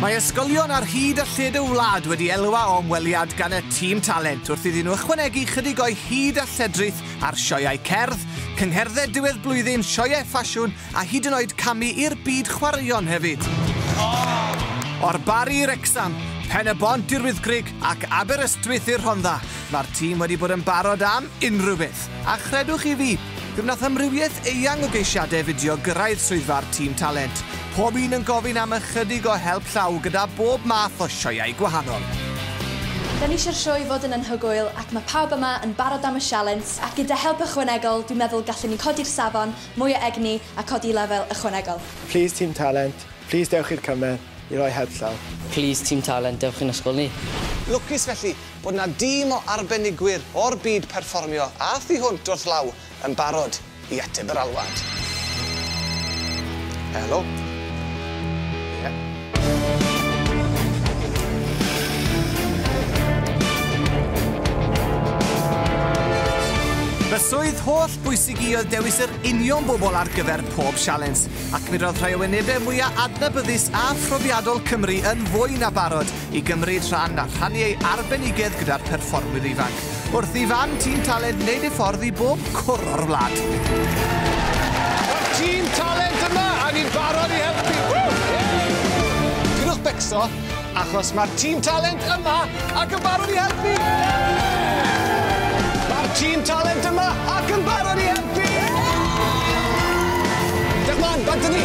Mae ysgolion ar hyd a lled y wlad wedi elwa o ymweliad gan y tîm talent wrth iddyn nhw ychwanegu chydig o'i hyd a lledrith ar sioeau cerdd, cyngherdded diwedd blwyddyn, sioeau ffasiwn a hyd yn oed camu i'r byd chwaraeon hefyd. O'r Barri i Wrecsam, Pen y Bont i'r Wyddgrug ac Aberystwyth i'r Rhondda, mae'r tîm wedi bod yn barod am unrhyw beth. A chredwch chi fi, fe wnaeth amrywiaeth eang o geisiadau fideo gyrraedd swyddfa'r tîm talent, Pob un yn gofyn am ychydig o help llaw gyda bob math o sioeau gwahanol. Dan ni eisiau'r sioe fod yn anhygoel ac mae pawb yma yn barod am y sialens ac gyda help ychwanegol dwi'n meddwl gallwn ni codi'r safon, mwy o egni a codi i lefel ychwanegol. Plis Tîm Talent, plis dewch i'r cymer i roi help llaw. Plis Tîm Talent, dewch i'n ysgol ni. Lwcus felly bod 'na dîm o arbenigwyr o'r byd perfformio a thu hwnt wrth law yn barod. I ateb yr alwad. Helo? Fy swydd holl bwysig i oedd dewis yr union bobl ar gyfer pob sialens, ac mi roedd rhai o wynebau mwyaf adnabyddus a phrofiadol Cymru yn fwy na barod i gymryd rhan a rhannu ei arbenigedd gyda'r perfformwyr ifanc, wrth i fam Tîm Talent wneud ei ffordd i bob cwr o'r wlad. Mae'r Tîm Talent yma a ni'n barod i helpu! Peidiwch becso, achos mae'r Tîm Talent yma ac yn barod i helpu! Mae'r Tîm Talent yma ac yn barod i helpu! Diolch mân, bant â ni!